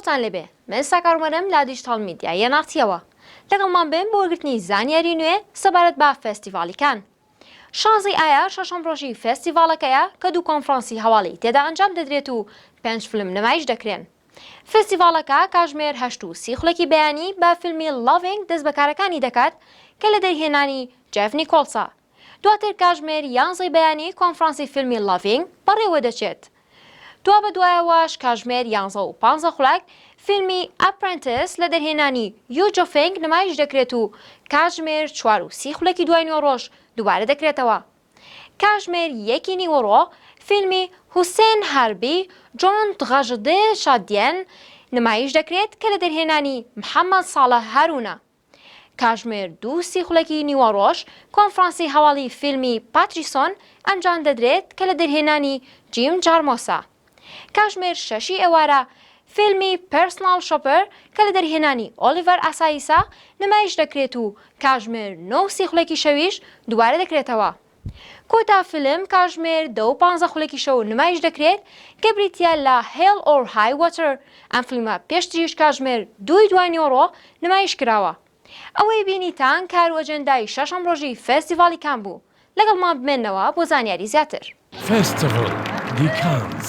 سڵاوتان لێبێ من ساکار ومەرەم لە دیجیتاڵ میدیای یەناختیەوە لەگەڵمان بن بۆ وەرگرتنی زانیاری نوێ سەبارەت بە فێستیڤاڵی کان شازی ئایا شەشەم ڕۆژی فێستیڤاڵەکەیە کە دوو کۆنفرانسی هەواڵی تێدا ئەنجام دەدرێت و پێنج فلم نمایش دەکرێن. فێستیڤاڵەکە کاژمێر هەشت و سی خولەکی بەیانی بە فیلمی Loving دەست بە کارەکانی دەکات کە لە دەرهێنانی جێف نیکۆڵسە. دواتر کاژمێر یانزەی بەیانی کۆنفرانسی فیلمی Loving بەڕێوەدەچێت. دوابەدوایەوەش کاژمێر یانزە و پانزە خولاک فیلمی ئەپرێنتس لە دەرهێنانی یو جۆ فێنگ نمایش دەکرێت و کاژمێر چوار و سی خولەکی دوای نوێڕۆژ دووبارە دەکرێتەوە. کاژمێر یەکی نیوەڕۆ فیلمی هوسێن هاربی جۆن تغەژدێ شادیێن نمایش دەکرێت کە لە دەرهێنانی محەمەد ساڵح هارونە. کاژمێر دوو سی خولەکی نیوەڕۆژ کۆنفرانسی هەواڵی فیلمی پاتریسۆن ئەنجام دەدرێت کە لە دەرهێنانی جیم جارمۆسە. کاژمێر شەشی ئێوارە فیلمی پێرسناڵ شۆپەر کە لە دەرهێنانی ئۆلیڤەر ئاسایسە نمایش دەکرێت و کاژمێر نۆ و سی خولەکی شەویش دووبارە دەکرێتەوە. کۆتا فیلم کاژمێر دە و پانزە خولەکی شەو نمایش دەکرێت کە بریتییە لە Hell or High Water، ئەم فیلمە پێشتریش کاژمێر دووی دوانیۆڕۆ نمایش کراوە. ئەوەی بینیتان کارو ئەجێندای شەشەم ڕۆژی فێستیڤاڵی کان بوو. لەگەڵمان بمێنەوە بۆ زانیاری زیاتر. فێستیڤڵ دی کانز.